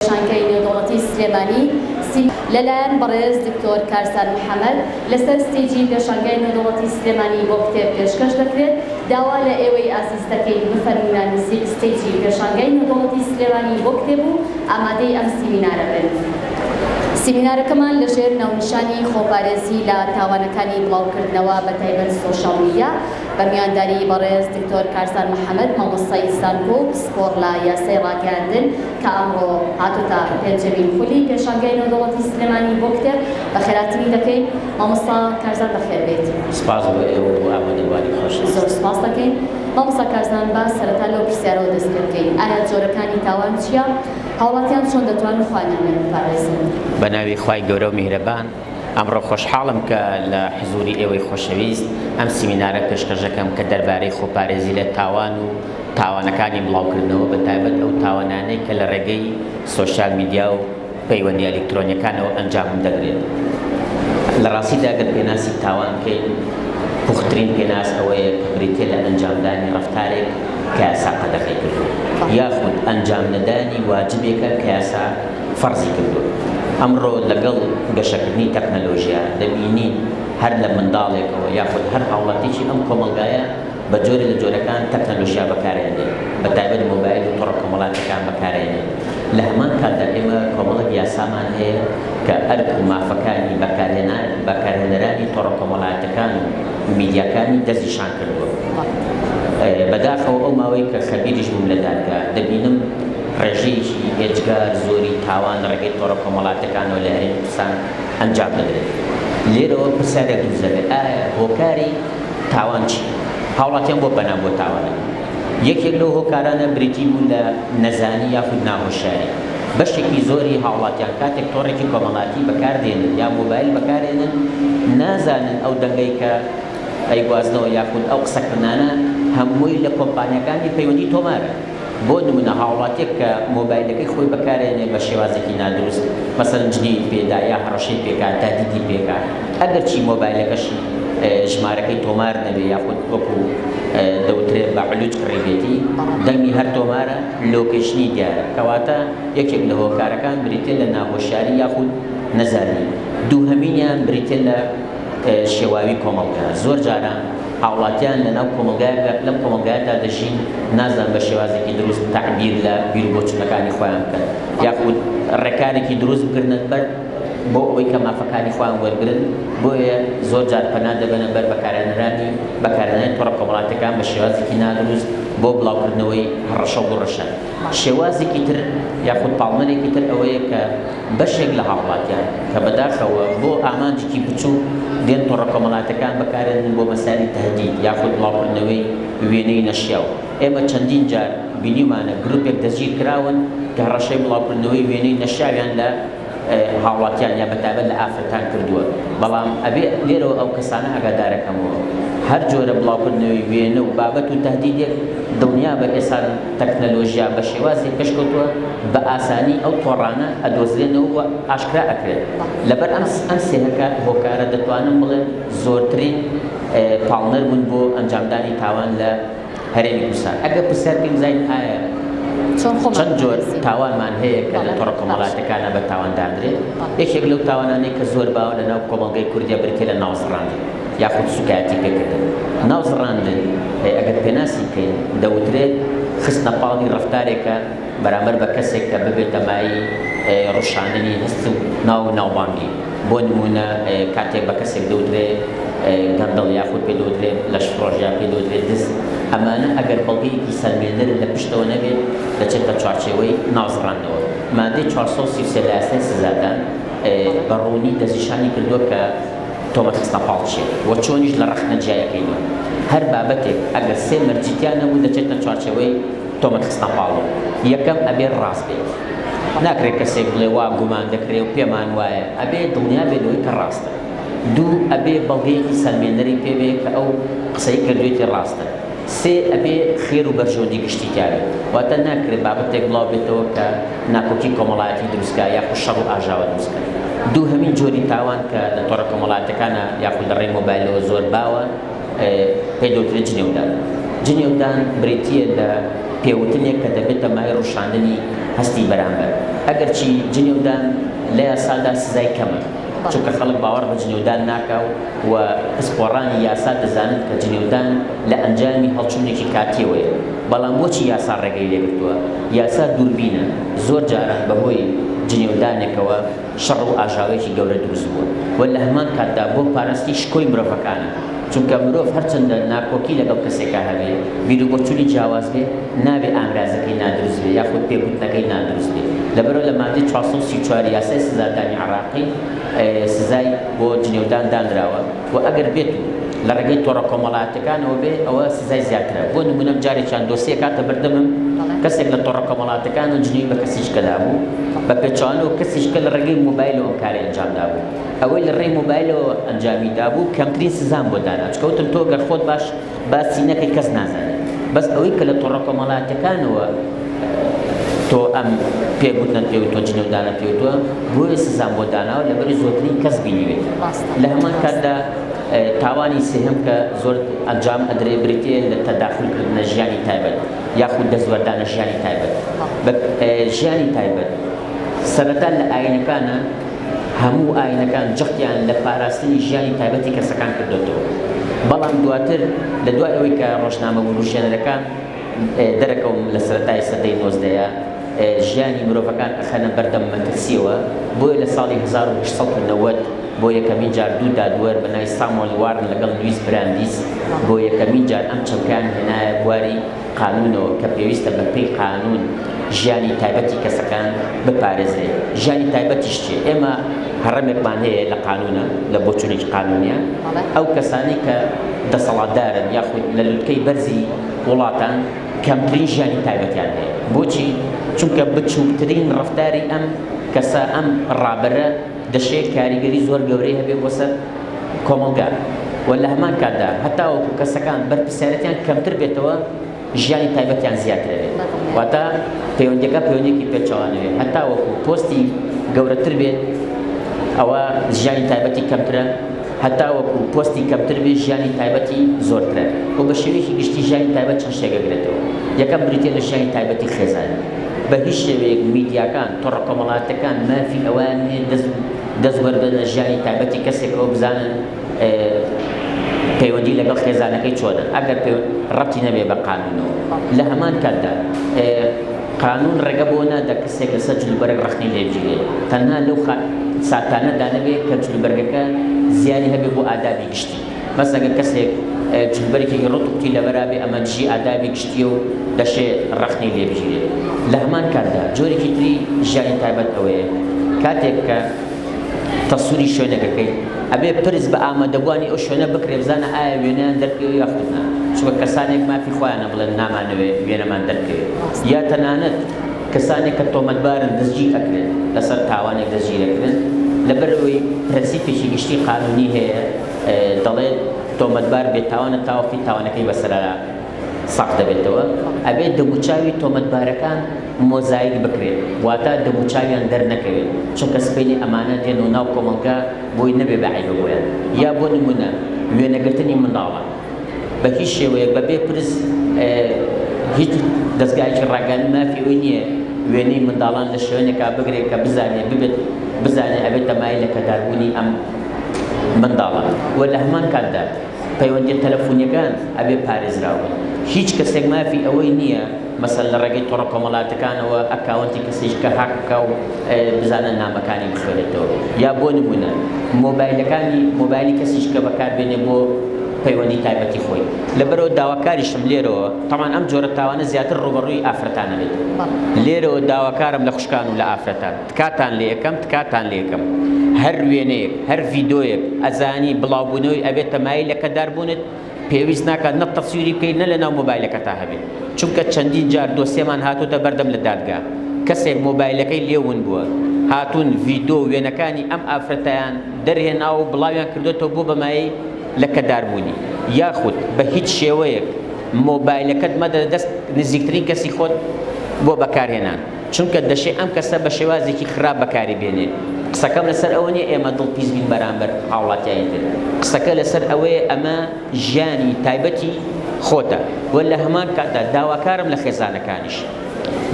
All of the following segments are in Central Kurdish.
شانکای نێودەوڵەتی سلێمانی سی لەلایەن بەڕێز دکتۆر کارزان محەمەد لەسەر ستەیجی پێشانگای نێودەوڵەتی سلێمانی بۆ کتێب پێشکەش دەکرێت، داوا لە ئێوەی ئازیز دەکەین بفەرموونە نزیک ستەیجی پێشانگای نێودەوڵەتی سلێمانی بۆ کتێب و ئامادەی ئەم سیمینارە بن. سیمینارەکەمان لەژێر ناونیشانی خۆپارێزی لە تاوانەکانی بڵاوکردنەوە بە تایبەت سۆشیاڵ میدیا بە میوانداریی بەڕێز دکتۆر کارزان محەمەد مامۆستای زانکۆ و پسپۆڕ لە یاسای ڕاگەیاندن کە ئەمڕۆ هاتۆتە پێنجەمین خولی پێشانگای نێودەوڵەتی سلێمانی بۆ کتێب، بەخێراتنی دەکەین، مامۆستا کارزان بەخێربێیت. سپاس بۆ ئێوە بۆ ئامادەبووانی خۆشتان. زۆر سپاس دەکەین. مامۆستا کارزان با سەرەتا لەو پرسیارەوە دەست پێ بکەین، ئایا جۆرەکانی تاوان چییە؟ هاوڵاتیان چۆن دەتوانن خوای نامێر بپارێزن؟ بەناوی خوای گەورەو میهرەبان. ئەمڕۆ خۆشحاڵم کە لە حزووری ئێوەی خۆشەویست ئەم سیمینارە پێشکەش دەکەم کە دەربارەی خۆپارێزی لە تاوان و تاوانەکانی بڵاوکردنەوە بە تایبەت ئەو تاوانانەی کە لە ڕێگەی سۆشیال میدیا و پەیوەندیە ئەلیکترۆنیەکانەوە ئەنجام دەدرێت. لە ڕاستیدا گەر پێناسی تاوان بکەین پوخترین پێناس ئەوەیە کە بریتیە لە ئەنجامدانی ڕەفتارێک کە یاسا قەدەغەی کردووە یاخود ئەنجام نەدانی واجبێکە کە یاسا فەرزی کردووە. ئەمڕۆ لەگەڵ گەشەکردنی تەکنەلۆژیا دەبینین هەر لە منداڵێکەوە یاخود هەر هاوڵاتیەکی ئەم کۆمەڵگایە بە جۆرێ لە جۆرەکان تەکنەلۆژیا بەکارئەێنێت بە تایبەت مۆبایل و تۆڕە کۆمەڵاتیەکان بەکارئەێنێت لە هەمان کاتدا ئێمە کۆمەڵێک یاسامان هەیە کە ئەرک و مافەکانی بەکارهێنان بەکارهێنەرانی تۆڕە کۆمەڵایەتەکان و میدیاکانی دەستنیشان کردووە. بەداخەوە ئەو ماوەی کە خەبیریش بووم لە دادگا دەبینم ڕێژەیەکی ئێجگار زۆری تاوان لە ڕێگەی تۆڕە کۆمەڵاتیەکانەوە لە هەرێمی کوردستان ئەنجام دەدرێت. لێرەوە پرسیارێک دروست دەبێت، ئایا هۆکاری تاوان چیە؟ هاوڵاتیان بۆ پەنا بۆ تاوان دەبەن؟ یەکێک لەو هۆکارانە بریتی بوو لە نەزانی یاخود ناهۆشیاری. بەشێکی زۆری هاوڵاتیان کاتێک تۆڕێکی کۆمەڵاتی بەکار دێنن یا مۆبایل بەکار ئێنن نازانن ئەو دەنگەی کە ئەیگوازنەوە یاخود ئەو قسەکردنانە هەمووی لە کۆمپانیاکانی پەیوەندی تۆمارە. بۆ نمونە هاوڵاتیەک کە مۆبایلەکەی خۆی بەکارێنێ بە شێوازێکی نادروست مەسەلەن جنێوی پێدا یا هەڕەشەی پێکا تادیدی پێکا ئەگەر چی مۆبایلەکەشی ژمارەکەی تۆمار نەبێ یاخود وەکو دەوترێ بە علوج کڕیبێتی دەنگی هەر تۆمارە لۆکەیشنی دیارە کەواتە یەکێک لە هۆکارەکان بریتیە لە ناهۆشیاری یاخود نەزانی دووهەمینیان بریتیە لە شێواوی کۆمەڵگا زۆر جارە هاوڵاتیان لە ناو کۆمەڵگایەکدا لەم کۆمەڵگایەدا دەژین نازانن بە شێوازێکی دروست تەعبیر لە بیر و بۆچوونەکانی خۆیان بکەن یاخود ڕێکارێکی دروست بگرنە بەر بۆ ئەوەی کە مافەکانی خۆیان وەرگرن بۆیە زۆر جار پەنا دەبەنە بەر بەکارهێنەرانی بەکارهێنانی تۆڕە کۆمەڵاتیەکان بە شێوازێکی نادروست بۆ بڵاوکردنەوەی هەڕەشە و گوڕەشە. شێوازێکی تر یاخود پاڵنەرێکی تر ئەوەیە کە بەشێک لە هاوڵاتیان کە بەداخەوە بۆ ئامانجێکی بچووک دێن تۆڕە کۆمەڵاتەکان بەکارێنن بۆ مەسالی تەهدید یاخود بڵاوکردنەوەی وێنەی نەشیاو ئێمە چەندین جار بینیومانە گروپێک دەستگیرکراون کە هەڕەشەی بڵاوکردنەوەی وێنەی نەشیاویان لە هاوڵاتیان یا بەتایبەت لە ئافرەتان کردووە، بەڵام ئەبێ لێرەوە ئەو کەسانە ئاگادارە کەمەوە هەر جۆرە بڵاوکردنەوەی وێنە و بابەت و تەهدیدێک دڵنیابە ئێستا تەکنەلۆژیا بە شێوازێک پێشکەوتووە بە ئاسانی ئەو تۆڕانە ئەدۆزرێنەوە و ئاشکرا ئەکرێن لەبەر ئەم ئەم سێ هۆکارە دەتوانم بڵێم زۆرترین پاڵنەر بوون بۆ ئەنجامدانی تاوان لە هەرێمی کوردستان ئەگەر پرسیار پێی بزانین ئایا چەند جۆر تاوانمان هەیە کە لە تۆڕە کۆمەڵاتەکانە بە تاوان دادرێت یەکێک لەو تاوانانەی کە زۆر باوە لە ناو کۆمەڵگەی کوردیا برکە لە ناوزڕاندن یاخود سوکایەتی پێکردن ناوزڕاندن ئەگەر پێناسی بکەین دەوترێت خستنە پاڵی ڕفتارێکە بەرامبەر بە کەسێک کە ببێتە مایەی ڕشاننی هەست و ناو و ناوبانگی، بۆ نموونە کاتێک بە کەسێک دەوترێ گەندەڵ یاخود پێ دەوترێ لەشفرۆش یان پێ دەوترێ دز، ئەمانە ئەگەر بەڵگەیەکی سەلمێنەر و لە پشتەوە نەبێت دەچێتە چوارچێوەی نازڕاندنەوە. مادەی چوار سەد و سی و سێ لە یاسای سزادان بە ڕوونی دەستنیشانی کردووە کە تۆمەت خستنە پاڵ چییە و چۆنیش لە ڕەخنە جیایەکەینەوە. هەر بابەتێک ئەگەر سێ مەرجی تیا نەبوو دەچێتە چوارچێوەی تۆمەت خستنە پاڵی یەکەم ئەبێت ڕاست بێت ناکرێت کەسێک بڵێ وا گومان دەکرێ و پێمان وایە ئەبێت دڵنیا بێت لەوەی کە ڕاستە دوو ئەبێ بەڵگەیەکی سەلمێنەری پێبێ کە ئەو قسەی کردوێتی ڕاستە سێ ئەبێ خێر و بەرژەوەندی گشتی تیاێ واتە ناکرێت بابەتێک بڵاو بێتەوە کە ناکۆکی کۆمەڵایەتی دروستکە یاخود شەڕ و ئاژاوە دروستکە دوو هەمین جۆری تاوان کە لە تۆڕە کۆمەڵاتەکانە یاخود لە ڕێی مۆبایلەوە زۆر باوە پێ دەوترێت جنێودان جنێودان بریتییە لە پێوتنێک کە دەبێتە مای ڕشاندنی هەستی بەرامبەر ئەگەرچی جنێودان لە یاسادا سزای کەمە چونکە خەڵک باوەڕ بە جنێودان ناکا و پسپۆڕانی یاسا دەزانن کە جنێودان لە ئەنجامی هەڵچوونێکی کاتیەوەیە بەڵام بۆچی یاسا ڕێگەی لێگرتووە یاسا دووربینە زۆر جاران بەهۆی جنێودانێکەوە شەڕ و ئاژاوەیەکی گەورە دروست بووە و لە هەمان کاتدا بۆ پاراستنی شکۆی مرۆڤەکانە، چونکە مرۆڤ هەرچەندە ناکۆکی لەگەڵ کەسێکا هەبێ، بیروبۆچوونی جیاواز بێ، نابێ ئامرازەکەی نادروست بێ یاخود پێکوتنەکەی نادروست بێ، لەبەرئەوە لە ماددەی چوار سەد و سی و چوار یاسای سزادانی عێراقی سزای بۆ جنێودان دانراوە. و ئەگەر بێت و لە ڕێگەی تۆڕە کۆمەڵاتەکانەوە بێت ئەوە سزای زیاترە بۆ نمونە جارێکیان دۆسیە کاتە بەردەمم کەسێک لە تۆڕە کۆمەڵاتەکان و جنی بە کەسیشکە دابوو بە پێچوانە و کەسیشکە لە ڕێگەی مۆبایلەوە کاری ئەنجام دابوو ئەوەی لە ڕێی مۆبایلەوە ئەنجامی دابوو کەمترین سزام بۆ دانا چکەوتم تۆ گەر خۆت باش باسی نەکەی کەس نازانێ بەس ئەوەی کە لە تۆڕە کۆمەڵاتەکانەوە تۆ ئەم پێگوتنە پێ تۆ جنێودانە پێ تۆ بۆیە سزان بۆ داناوە لەبەری زۆرترین کەس بینیوێت لە هەمان کاتدا تاوانی سێهم کە زۆر ئەنجام ئەدرێ بریتە لە تەداخلکردنە ژیانی تایبەت یاخود دەستوەردانە ژیانی تایبەت ژیانی تایبەت سەرەتا لە ئاینەکانە هەموو ئایینەکان جەختیان لە پاراستنی ژیانی تایبەتی کەسەکان کردۆتەوە، بەڵام دواتر لە دوای ئەوەی کە ڕۆژنامە وروژێنەرەکان دەرەکەون لە سەرەتای سەدەی نۆزدەیە ژیانی مرۆڤەکان ئەخەنە بەردەم مەترسیەوە، بۆیە لە ساڵی هەزار و هەشت سەد و نەوەد بۆ یەکەمین جار دوو دادوەر بە ناوی سامۆل وارن لەگەڵ لویس براندیس بۆ یەکەمین جار ئەم چەمکەیان هێنایە بواری قانونەوە کە پێویستە بە پێی قانون ژیانی تایبەتی کەسەکان بپارێزرێ ژیانی تایبەتیش چیە ئێمە هەڕەمێکمان هەیە لە قانونە لە بۆچونێکی قانونیە ئەو کەسانی کە دەسەڵاتدارن یاخود لە لوتکەی بەرزی وڵاتان کەمترین ژیانی تایبەتیان هەیە بۆچی چونکە بچووکترین ڕفتاری ئەم کەسە ئەم ڕابەرە دەشێت کاریگەری زۆر گەورەی هەبێت بۆ سەر کۆمەڵگا و لە هەمان کاتدا هەتاوەکو کەسەکان بەرپرسیارێتیان کەمتر بێتەوە ژیانی تایبەتیان زیاتر ئەوێت واتە پەیوەندیەکە پەیوەندێکی پێچەوانەوێت هەتاوەکو پۆستی گەورەتر بێت ئەوە ژیانی تایبەتی کەمترە هەتاوەکو پۆستی کەمتر بێ ژیانی تایبەتی زۆرترە و بە شێوەیەکی گشتی ژیانی تایبەت چەند شتێک گرێتەوە یەکەم بریتە لە ژیانی تایبەتی خێزان بە هیچ شێوەیەک میدیاکان، تۆڕە کۆمەڵاتەکان مافی ئەوەیان نییە دەست دەست وەربگرن لە ژیانی تایبەتی کەسێکەوە بزانن پەیوەندی لەگەڵ خێزانەکەی چۆنە ئەگەر ڕەبتی نەبێ بە قانونەوە لە هەمان کاتدا قانون ڕێگە بۆ نادا کەسێک لەسەر جلوبەرگ ڕەخنەی لێ بگیرێت تەنها لەو ساتانەدا نەبێت کە جلوبەرگەکە زیانی هەبێت بۆ ئادابی گشتی. بەس ئەگەر کەسێک جلوبەرگێکی ڕوت قوتی لەبەرا بێ ئەمە دژی ئادابی گشتیە و دەشێ ڕەخنەی لێ بگیرێ. لە هەمان کاتدا جۆرێکی تری ژیانی تایبەت ئەوەیە کاتێک کە تەسوری شوێنەکەکەی ئەبێ پرس بە ئامادەبوانی ئەو شوێنە بکرێ بزانە ئایا وێنەیان دەرکەوێ یا خود نا چونکە کەسانێک مافی خۆیانە بڵێن نامانەوێ وێنەمان دەرکەوێ یا تەنانەت کەسانێک کە تۆمەتبارن دەستگیر ئەکرێن لەسەر تاوانێک دەستگیر ئەکرێن لەبەر ئەوەی پرەنسیپێکی گشتی قانونی هەیە دەڵێت تۆمەتبار بێتاوانە تا وەختی تاوانەکەی بەسەرا ساخ دەبێتەوە، ئەبێت دەموچاوی تۆمەتبارەکان مۆزایک بکرێت، واتە دەموچاویان دەرنەکەوێت، چونکە سبەینێ ئەمانە دێن و ناو کۆمەڵگە بۆی نەبێ بە عەیبە بۆیان، یا بۆ نموونە وێنەگرتنی منداڵە بە هیچ شێوەیەک بە بێ پرس هیچ دەزگایەکی ڕاگەیاندن مافی ئەوی نییە وێنەی منداڵان لە شوێنێکا بگرێت کە بزانێت ببێت بزانێت ئەبێت تەمایل لە کەداربوونی ئەم منداڵان و لە هەمان کاتدا پەیوەندیە تەلەفونیەکان ئەبێ پارێزراو بن هیچ کەسێک مافی ئەوەی نیە مەسەن لە ڕێگەی تۆڕە کۆمەڵاتەکانەوە ئەکاونتی کەسیش کە هاک بکا و بزانە نامەکانی بخوێنێتەوە یا بۆ نمونە مۆبایلەکانی مۆبایلی کەسیش کە بەکاربێنێ بۆ پەیوەندی تایبەتی خۆی لەبەرەوە داواکاریشم لێرەوە تەمان ئەم جۆرە تاوانە زیاتر ڕوبەڕووی ئافرەتانە بێت لێرەوە داواکارم لە خوشکان و لە ئافرەتان تکاتان لێکەم تکاتان لێکەم هەر وێنەیەک هەر ڤیدۆیەک ئەزانی بڵاو بونەوەی ئەبێت تەمایل لە کەدار بونت پێویست ناکات نە تەسویری بکەیت نە لەناو مۆبایلەکەتا هەبێت چونکە چەندین جار دۆسێمان هاتۆتە بەردەم لە دادگا کەسێک مۆبایلەکەی لێ ون بوە هاتون ڤیدۆ و وێنەکانی ئەم ئافرەتەیان دەرهێناوە و بڵاویان کردۆتەوە بۆ بەمایەی لە کەدار بونی یاخود بە هیچ شێوەیەک مۆبایلەکەت مەدە دەست نزیکترین کەسی خۆت بۆ بەکارهێنان. چونکە دەشێ ئەم کەسە بە شێوازێکی خراپ بەکاری بێنێ. قسەکەم لەسەر ئەوە نییە ئێمە دڵ پیس بین بەرامبەر هاوڵاتیانی تر. قسەکە لەسەر ئەوەیە ئەمە ژیانی تایبەتی خۆتە و لە هەمان کاتدا داواکارم لە خێزانەکانیش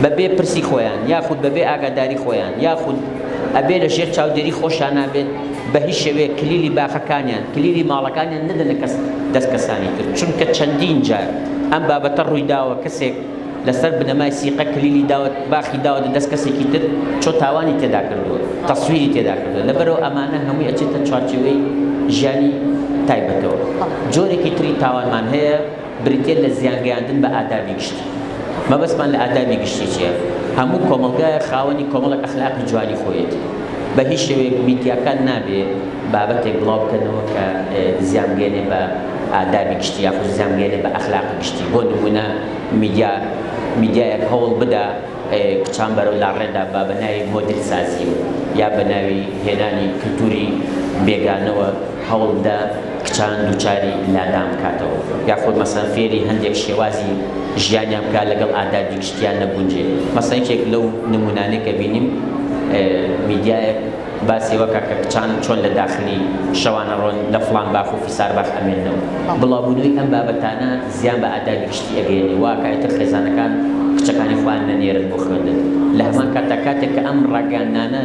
بە بێ پرسی خۆیان یاخود بە بێ ئاگاداری خۆیان یاخود ئەبێ لە ژێر چاودێری خۆشانا بێت بە هیچ شێوەیەک کلیلی باخەکانیان کلیلی ماڵەکانیان نەدەنە کەس دەست کەسانی تر چونکە چەندین جار ئەم بابەتە ڕووی داوە کەسێک لەسەر بنەمای سیقە کلیلی داوە باخی داوەتە دەست کەسێکی تر چۆ تاوانی تێدا کردووە تەسویری تێدا کردووە لەبەرەوە ئەمانە هەمووی ئەچێتە چوارچێوەی ژیانی تایبەتەوە جۆرێکی تری تاوانمان هەیە بریتە لە زیانگەیاندن بە ئادابی گشتی مەبەستمان لە ئادابی گشتی چیە هەموو کۆمەڵگایە خاوەنی کۆمەڵک ئەخلاقی جوانی خۆیەتی بە هیچ شێوەیەک میدیاکان نابێ بابەتێک بڵاو بکەنەوە کە زیانگەێنێ بە ئادابی گشتی یاخود زیانگەێنێ بە ئەخلاقی گشتی بۆ نمونە میدیا میدیایەک هەوڵ بدا کچان بەرەو لاڕێدا با بە ناوی مۆدیل سازی و یا بە ناوی هێنانی کلتوری بێگانەوە هەوڵ بدا کچان دوچاری لادان بکاتەوە یاخود مەسەن فێری هەندێک شێوازی ژیانیان بکە لەگەڵ ئادا دیکشتیان نەگونجێ مەسەن یەکێک لەو نمونانەی کە بینیم میدیایەک باسی ئەوە کە کە کچان چۆن لە داخلی شەوانە ڕۆن لە فڵان باخ و فیسار باخ ئەمێننەوە. بڵاو بوونەوەی ئەم بابەتانە زیان بە ئادابی گشتی ئەگەیەنێ وا ئەکا ئیتر خێزانەکان کچەکانی خۆیان نەنێرن بۆ خوێندن. لە هەمان کاتدا کاتێک کە ئەم ڕاگەیاندنانە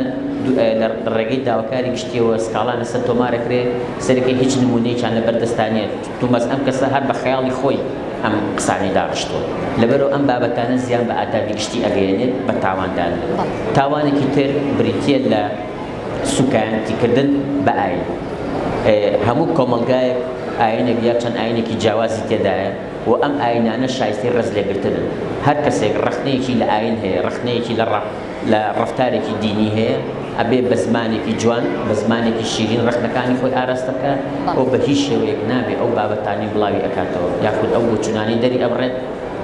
لە ڕێگەی داواکاری گشتییەوە سکاڵایان لە سەر تۆمار ئەکرێ، سەرەکی هیچ نموونەیەکیان لە بەر دەستدا نییە. توماس ئەم کەسە هەر بە خەیاڵی خۆی ئەم قسانەی داڕشتوە لەبەرئەو ئەم بابەتانە زیان بە ئادابی گشتی ئەگەیەنێت بە تاواندان لە تاوانێکی تر بریتیە لە سوکایەنتی کردن بە ئاین هەموو کۆمەڵگایەک ئاینێک یا چەند ئاینێکی جیاوازی تێدایە و ئەم ئاینانە شایستەی ڕێز لێگرتنن هەر کەسێک ڕەخنەیەکی لە ئاین هەیە ڕەخنەیەکی لە ڕەق لە ڕەفتارێکی دینی هەیە ئەبێ بە زمانێکی جوان بە زمانێکی شیرین ڕەخنەکانی خۆی ئاراستە بکە ئەو بە هیچ شێوەیەک نابێ ئەو بابەتانی بڵاوی ئەکاتەوە یاخود ئەو بۆچوونانی دەری ئەبڕێت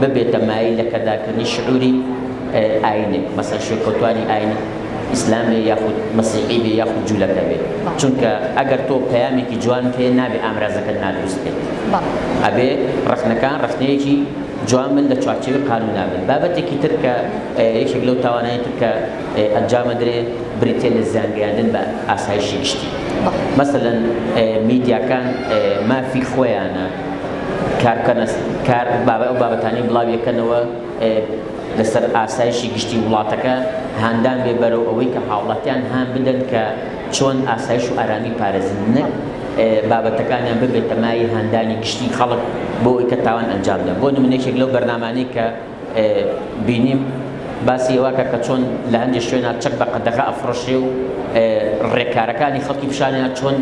ببێتە مایەی لەکەدارکردنی شعوری ئاینێک مەسەن شوێنکەوتوانی ئاینی ئیسلامێ یاخود مەسیحی بێ یاخود جوولەکە بێ چونکە ئەگەر تۆ پەیامێکی جوان پێ نابێ ئامرازەکەت نادروست بێت ئەبێ ڕەخنەکان ڕەخنەیەکی جوان بن لە چوارچێوەی قانونا بن. بابەتێکی تر کە یەکێک لەو تاوانانەی تر کە ئەنجام ئەدرێ بریتیە لە زیان گەیاندن بە ئاسایشی گشتی. مەسەلەن میدیاکان مافی خۆیانە کار بکەنە کار بابە ئەو بابەتانی بڵاوی ئەکەنەوە لەسەر ئاسایشی گشتی وڵاتەکە هاندان بێ بەرەو ئەوەی کە هاوڵاتیان هان بدەن کە چۆن ئاسایش و ئارامی پارێزن نەک بابەتەکانیان ببێتە مایەی هاندانی گشتی خەڵک بۆ ئەوەی کە تاوان ئەنجام بدەن بۆ نمونە یەکێک لەو بەرنامانەی کە بینیم باسی ئەوە کە کە چۆن لە هەندێک شوێنە چەک بە قەدەغە ئەفڕشێ و ڕێکارەکانی خەڵکی پیشانیان چۆن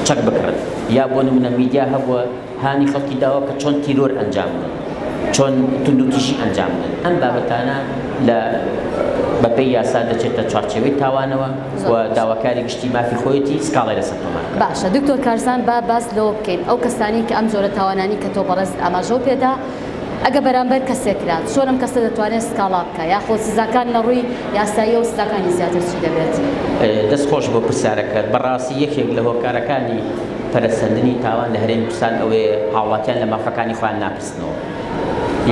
چەک بکڕن یا بۆ نمونە میدیا هەبووە هانی خەڵکی داوە کە چۆن تیرۆر ئەنجام بدەن، چۆن توندوتیژی ئەنجام بدەن، ئەم بابەتانە لە بەپێی یاسا دەچێتە چوارچێوەی تاوانەوە و داواکاری گشتی مافی خۆیەتی سکاڵای لەسەر تۆمار بکات. باشە دکتۆر کارزان با باس لەوە بکەین ئەو کەسانەی کە ئەم جۆرە تاوانانەی کە تۆ بەڕێزت ئاماژەو پێدا ئەگە بەرامبەر کەسێک کرا چۆن ئەم کەسە دەتوانێت سکاڵا بکا یاخۆ سزاکان لە ڕووی یاساییەوە سزاکانی زیاتر چی دەبێت؟ دەست خۆش بۆ پرسیارەکەت بەڕاستی یەکێک لە هۆکارەکانی پەرەسەندنی تاوان لە هەرێمی کوردستان ئەوەیە هاوڵاتیان لە مافەکانی خۆیان ناپرسنەوە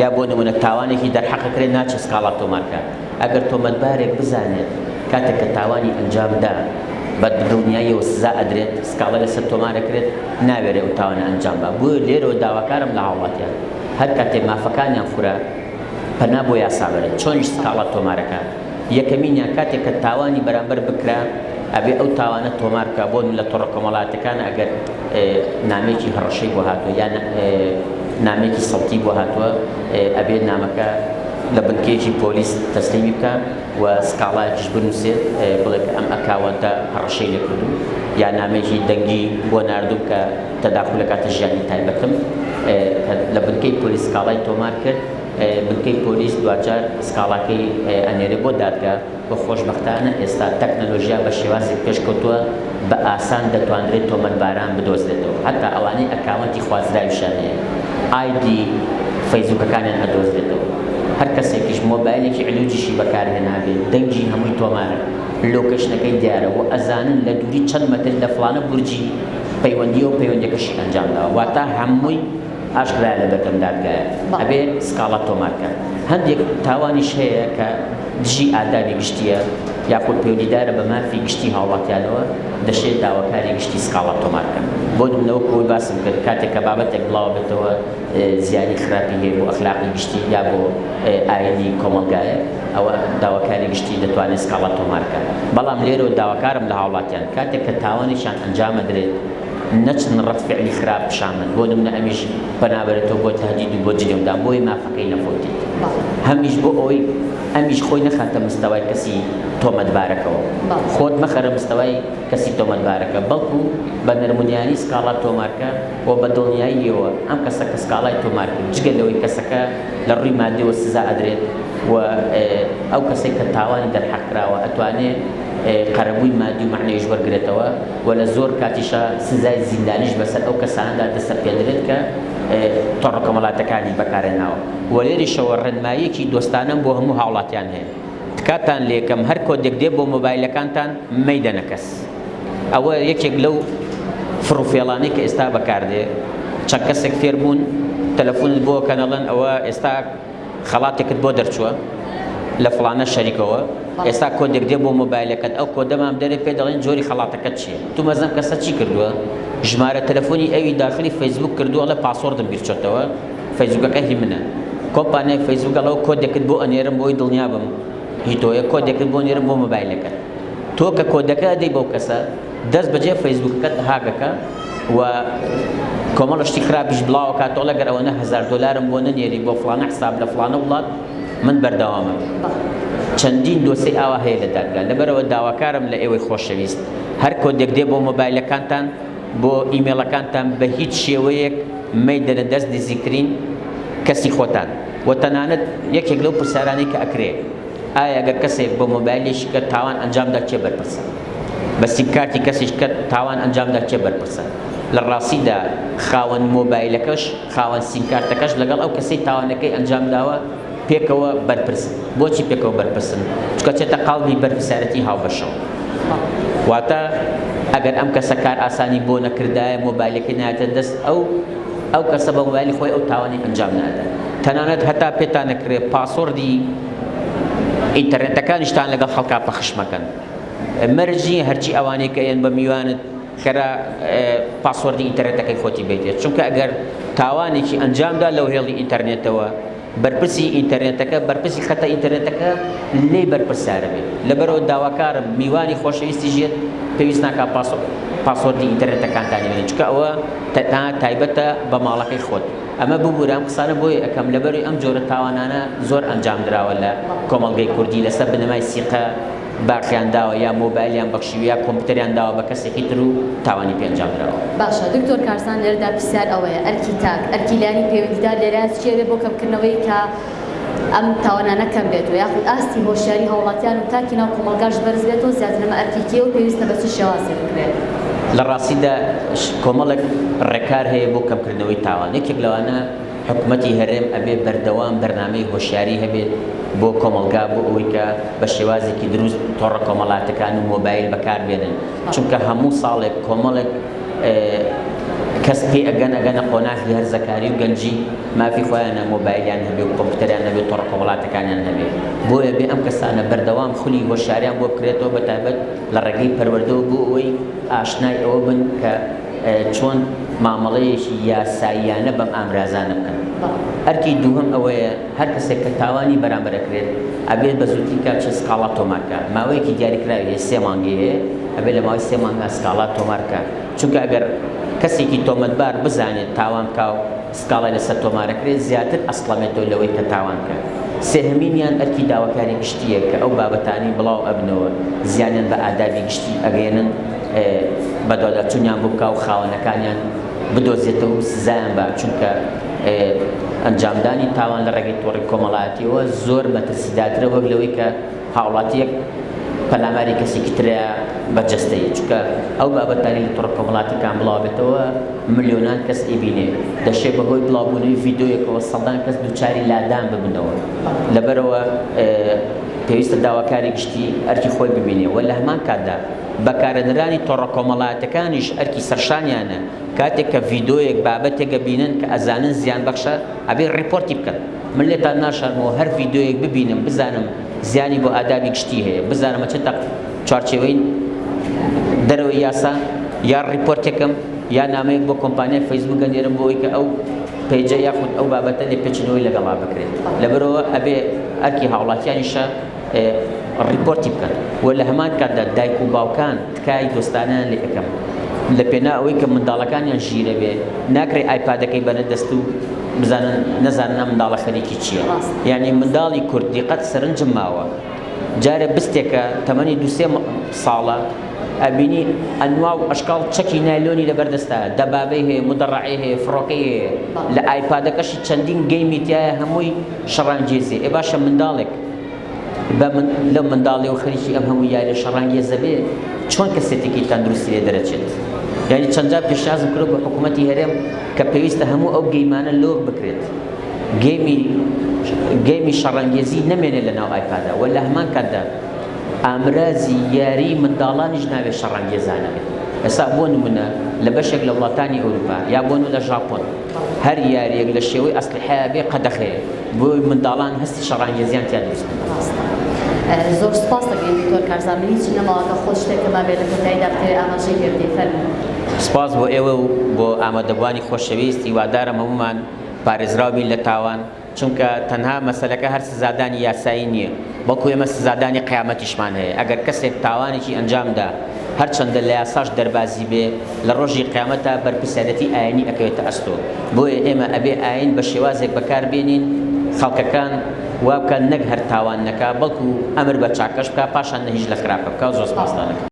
یا بۆ نمونە تاوانێکی دەرحەقەکرێ ناچێ سکاڵا تۆمارکات ئەگەر تۆمەتبارێک بزانێت کاتێک کە تاوانی ئەنجامدا بە دڵنیاییەوە سزا ئەدرێت سکاڵا لەسەر تۆمارەکرێت ناوێرێ ئەو تاوانە ئەنجام بە بۆ لێرەوە داواکارم لە هاوڵاتیان هەر کاتێ مافەکانیان خورا پەنا بۆ یاسابەرن چۆنیش سکاڵا تۆمارەکات یەکەمینیان کاتێک کە تاوانی بەرامبەر بکرا ئەبێ ئەو تاوانە تۆمار بکا بۆ لە تۆڕە کۆمەڵاتەکانە ئەگەر نامەیەکی هەڕەشەی بۆ هاتوە یان نامەیەکی سەوتی بۆ هاتوە ئەبێ نامەکە لە بنکەیەکی پۆلیس تەسلیمی بکا و سکاڵایەکیش بنووسێ بڵێ کە ئەم ئەکاوەنتە هەڕەشەی لێ کردو یا نامەیەکی دەنگی بۆ ناردوم کە تەداخولەکاتە ژیانی تایبەتم کە لە بنکەی پۆلیس سکاڵای تۆمار کرد بنکەی پۆلیس دواجار سکاڵاکەی ئەنێرێ بۆ دادگا و خۆشبەختانە ئێستا تەکنەلۆژیا بە شێوازێک پێشکەوتووە بە ئاسان دەتوانرێت تۆمەتباران بدۆزرێتەوە هەتا ئەوانەی ئەکاونتی خوازراویشیان هەیە ئایدی فەیسبوکەکانیان ئەدۆزرێتەوە هەرکەسێکیش مۆبایلێکی علوجیشی بەکارهێنابێ دەنگی هەمووی تۆمارە لۆکەیشنەکەی دیارە و ئەزانن لە دووری چەند مەتر لە فڵانە بورجی پەیوەندییەوە پەیوەندیەکەشی ئەنجامداوە واتا هەمووی ئاشکرایە لە بەردەم دادگایە ئەبێ سکاڵا تۆمار کات. هەندێک تاوانیش هەیە کە دژی ئادابی گشتییە یاخود پەیوەندیدارە بە مافی گشتی هاوڵاتیانەوە دەشێ داواکاری گشتی سکاڵا تۆمار بکەن. بۆ نمونە وەکو ئەوەی باسم کرد کاتێک کە بابەتێک بڵاوە بێتەوە زیانی خراپی هەیە بۆ ئەخلاقی گشتی یا بۆ ئاینی کۆمەڵگایەک ئەوە داواکاری گشتی دەتوانێ سکاڵا تۆمار کات. بەڵام لێرەوە داواکارم لە هاوڵاتیان کاتێک کە تاوانێکیان ئەنجام ئەدرێت، نەچن ڕەد فعلی خراپ پیشان بەن بۆ نمونە ئەمیش پەنابەرێتەوە بۆ تهدید و بۆ جنێو دان بۆیە مافەکەی نەفەوتێت هەمیش بۆ ئەوەی ئەمیش خۆی نەخاتە مستەوای کەسی تۆمەتبارەکەوە خۆت مەخەرە مستەوای کەسی تۆمەتبارەکە بەڵکو بە نەرمونیانی سکاڵا تۆمارکە و بە دڵنیاییەوە ئەم کەسە کە سکاڵای تۆمار کرد جگە لەوەی کەسەکە لە ڕووی مادیەوە سزا ئەدرێت و ئەو کەسەی کە تاوانی دەرحەق کراوە ئەتوانێت قەرەبووی مادی و مەعنەویش وەرگرێتەوە. و لە زۆر کاتیشا سزای زیندانیش بەسەر ئەو کەسانەدا دەسەپێنرێت کە تۆڕە کۆمەڵاتەکانی بەکارهێناوە و لێرەشەوە ڕێنماییەکی دۆستانەم بۆ هەموو هاوڵاتیان هەیە تکاتان لێکەم هەر کۆدێک دێ بۆ مۆبایلەکانتان مەیدەنە کەس ئەوە یەکێک لەو فڕوفێڵانەی کە ئێستا بەکاردێ چەند کەسێک فێربوون تەلەفۆنت بۆ کەنەڵەن ئەوە ئێستا خەڵاتێکت بۆ دەرچووە لە فڵانە شەریکەوە ئێستا کۆدێک دێ بۆ مۆبایلەکەت ئەو کۆدە مام دەرێ پێ دەڵێن جۆری خەڵاتەکەت چییە تو مەزەم کەسە چی کردووە ژمارە تەلەفۆنی ئەوی داخلی فەیسبوک کردووە ئەڵێ پاسۆردم بیر چۆتەوە فەیسبوکەکە هی منە کۆمپانیای فەیسبوک ئەڵەوە کۆدێکت بۆ ئەنێرم بۆی دڵنیا بم هی تۆیە کۆدێکت بۆ نێرم بۆ مۆبایلەکەت تۆ کە کۆدەکە دەی بەو کەسە دەست بەجێ فەیسبوکەکەت هاک دەکا و کۆمەڵە شتی خراپیش بڵاوەکات تۆڵ ئەگەر ئەوەنە هەزار دۆلارم بۆ نەنێری بۆ فڵانە حساب لە فڵانە وڵات من بەردەوامە چەندین دۆسی ئاوا هەیە لە دادگا لەبەرەوە داواکارم لە ئێوەی خۆشەویست هەر کۆدێک دێ بۆ مۆبایلەکانتان بۆ ئیمێڵەکانتان بە هیچ شێوەیەک مەیدەنە دەست نزیکترین کەسی خۆتان و تەنانەت یەکێک لەو پرسیارانەی کە ئەکرێ ئایا گەر کەسێک بە مۆبایلی شکەت تاوان ئەنجامدا کێ بەرپرسە؟ بە سیمکارتی کەسی شکەت تاوان ئەنجامدا کێ بەرپرسە؟ لە ڕاستیدا خاوەن مۆبایلەکەش خاوەن سیمکارتەکەش لەگەڵ ئەو کەسەی تاوانەکەی ئەنجامداوە پێکەوە بەرپرسن. بۆچی پێکەوە بەرپرسن؟ چونکە چێتە قاڵبی بەرپرسیارەتی هاوبەشەوە. واتە ئەگەر ئەم کەسە کارئاسانی بۆ نەکردایە مۆبایلەکەی نایەتە دەست ئەو، ئەو کەسە بە مۆبایلی خۆی ئەو تاوانەی ئەنجام نادات تەنانەت هەتا پێتان نەکرێت پاسۆردی ئینتەرنێتەکانیشتان لەگەڵ خەڵکا پەخش مەکەن مەرجی هەرچی ئەوانەی کە یەن بە میوانت کەرە پاسۆردی ئینتەرنێتەکەی خۆتی بیتێت چونکە ئەگەر تاوانێکی ئەنجامدا لەو هێڵی ئینتەرنێتەوە بەرپرسی ئینتەرنێتەکە بەرپرسی خەتە ئینتەرنێتەکە لێی بەرپرسیارە بێت لەبەرئەوە داواکارم میوانی خۆشەویستی ژێت پێویست ناکا پاسۆ پاسۆردی ئینتەرنێتەکانتانی بنێن چکە ئەوە تەنها تایبەتە بە ماڵەکەی خۆت ئەمە ببورە ئەم قسانە بۆی ئەکەم لەبەروی ئەم جۆرە تاوانانە زۆر ئەنجام دراوە لە کۆمەڵگەی کوردی لەسەر بنەمای سیقە باخیان داوە یا مۆبایلیان بەخشیوە یا کۆمپیوتەریان داوە بە کەسێکی تر و تاوانی پێ ئەنجام دراوە. باشە دکتۆر کارزان لێرەدا پرسیار ئەوەیە ئەرکی تاک، ئەرکی لایەنی پەیوەندیدار لێرە چی ئەبێت بۆ کەمکردنەوەی کە ئەم تاوانانە کەم بێت و یاخود ئاستی هۆشیاری هاوڵاتیان و تاکی ناو کۆمەڵگاش بەرز بێت و زیاتر ئەمە ئەرکی کێ و پێویستە بە چ شێوازێک بکرێت؟ لە ڕاستیدا کۆمەڵێک ڕێکار هەیە بۆ کەمکردنەوەی تاوان یەکێک لەوانە، حکومەتی هەرێم ئەبێ بەردەوام بەرنامەی هۆشیاری هەبێت بۆ کۆمەڵگا بۆ ئەوەی کە بە شێوازێکی دروست تۆڕە کۆمەڵاتەکان و مۆبایل بەکار بێنن چونکە هەموو ساڵێک کۆمەڵێک کەس پێ ئەگەن ئەگەنە قۆناخی هەرزەکاری و گەنجی مافی خۆیانە مۆبایلیان هەبێ و کۆمپیوتەریان هەبێ تۆڕە کۆمەڵاتەکانیان هەبێ بۆیە بێ ئەم کەسانە بەردەوام خولی هۆشیاریان بۆ بکرێتەوە بە تایبەت لە ڕێگەی پەروەردەوە بۆ ئەوەی ئاشنای ئەوە بن کە چۆن مامەڵەیەکی یاساییانە بەم ئامرازانە بکەن. ئەرکی دووهەم ئەوەیە هەر کەسێک کە تاوانی بەرامبەر ئەکرێت ئەبێت بە زووترین کات چل سکاڵا تۆمار بکات. ماوەیەکی دیاریکراوی هەیە، سێ مانگی هەیە، ئەبێت لە ماوەی سێ مانگا سکاڵا تۆمار بکات. چونکە ئەگەر کەسێکی تۆمەتبار بزانێت تاوان بکا و سکاڵای لەسەر تۆمارەکرێت زیاتر ئەسڵەمێتەوە لەوەی کە تاوان کرد. سێهەمینیان ئەرکی داواکاری گشتییە کە ئەو بابەتانەی بڵاو ئەبنەوە زیانیان بە ئادابی گشتی ئەگەیەنن بەدواداچونیان بۆ بکا و خاوەنەکانیان بدۆزێتەوە و سزایان با چونکە ئەنجامدانی تاوان لە ڕێگەی تۆڕی کۆمەڵایەتیەوە زۆر مەترسیداترە وەک لەوەی کە هاوڵاتیەک پەلاماری کەسیکی ترەیە بە جەستەیی چونکە ئەو بابەتانی لە تۆڕە کۆمەڵاتیەکان بڵاوبێتەوە ملیۆنان کەس ئەیبینێ دەشێ بەهۆی بڵاوبونەوەی ڤیدۆیەکەوە سەدان کەس دووچاری لادان ببنەوە لەبەرەوە پێویستە داواکاری گشتی ئەرکی خۆی ببینێ و لە هەمان کاتدا بەکارەدرانی تۆڕە کۆمەڵاتەکانیش ئەرکی سەرشانیانە کاتێک کە ڤیدۆیەک بابەتێکە بینن کە ئەزانن زیان بەخشە ئەبێ ڕیپۆرتی بکەن. من لێتان ناشارمەوە هەر ڤیدیۆیەک ببینم بزانم زیانی بۆ ئادابی گشتی هەیە بزانم چ تەق چوارچێوەی دەرەوەی یاسا یا ڕیپۆرتێکم یا نامەیەک بۆ کۆمپانیای فەیسبوک گەنێرم بۆ ئەوی کە ئەو پێجە یاخود ئەو بابەتە لێ پێچنەوەی لەگەڵا بکرێت لەبەرەوە ئەبێ ئەرکی هاوڵاتیانیشە ڕیپۆرتی بکەن و لە هەمان کاتدا دایک و باوکان تکای دۆستانەیان لێ ئەکەم لە پێناو ئەوەی کە منداڵەکانیان ژیرە بێ ناکرێ ئایپادەکەی بەنە دەست و بزانن نەزانن ئەم منداڵە خەریکی چییە یعنی منداڵی کورد دیقەت سەرنجم ماوە جارێ بستێکە تەمەنی دو سێ ساڵە ئەبینی ئەنوا و ئەشکاڵ چەکی نایلۆنی لەبەردەستە دەبابەی هەیە مدەڕعی هەیە فڕۆکەی هەیە لە ئایپادەکەشی چەندین گەیمی تایە هەمووی شەڕانگێزی ئێ باشە منداڵێک بە من لەو منداڵیەوە خەریکی ئەم هەموو یاریە شەڕانگێزە بێ چۆن کەسێتێکی تەندروستی لێ دەرەچێت یاری چەندجا پێشنازم کرد بە حکوومەتی هەرێم کە پێویستە هەموو ئەو گەیمانە لۆک بکرێت گەیمی گەیمی شەڕەنگێزی نەمێنێ لە ناو ئایپادا و لە هەمان کاتدا ئامرازی یاری منداڵانیش ناوێ شەڕەنگێزانە بێت ئێستا بۆ نمونە لە بەشێک لە وڵاتانی ئەوروپا یا بۆن لە ژاپۆن هەر یاریەک لە شێوەی ئەسلحەیە بێ قەدەخەیە بۆ منداڵان هەستی شەڕانگێزیان تیا دروست بکەن بەڕاست زۆر سپاس دەکەین دکتۆر کارزان من هیچی نەماوە کە خۆ شتێک کەما بێت لە کۆتاییدا بتەوێت ئاماژەی پێ بدەی فەرموو سپاس بۆ ئێوە و بۆ ئامادەبووانی خۆشەویست هیوادارم هەموومان پارێزراو بین لە تاوان چونکە تەنها مەسەلەکە هەر سزادانی یاسایی نییە بەڵکو ئێمە سزادانی قیامەتیشمان هەیە، ئەگەر کەسێک تاوانێکی ئەنجامدا هەرچەندە لە یاساش دەربازی بێ لە ڕۆژی قیامەتا بەرپرسیارێتی ئاینی ئەکەوێتە ئەستۆ، بۆیە ئێمە ئەبێ ئاین بە شێوازێک بەکاربێنین خەڵکەکان وابکات نەک هەر تاوان نەکا بەڵکو ئەمر بە چاکەش بکا پاشان نەهیش لە خراپە بکا زۆر سپاستان.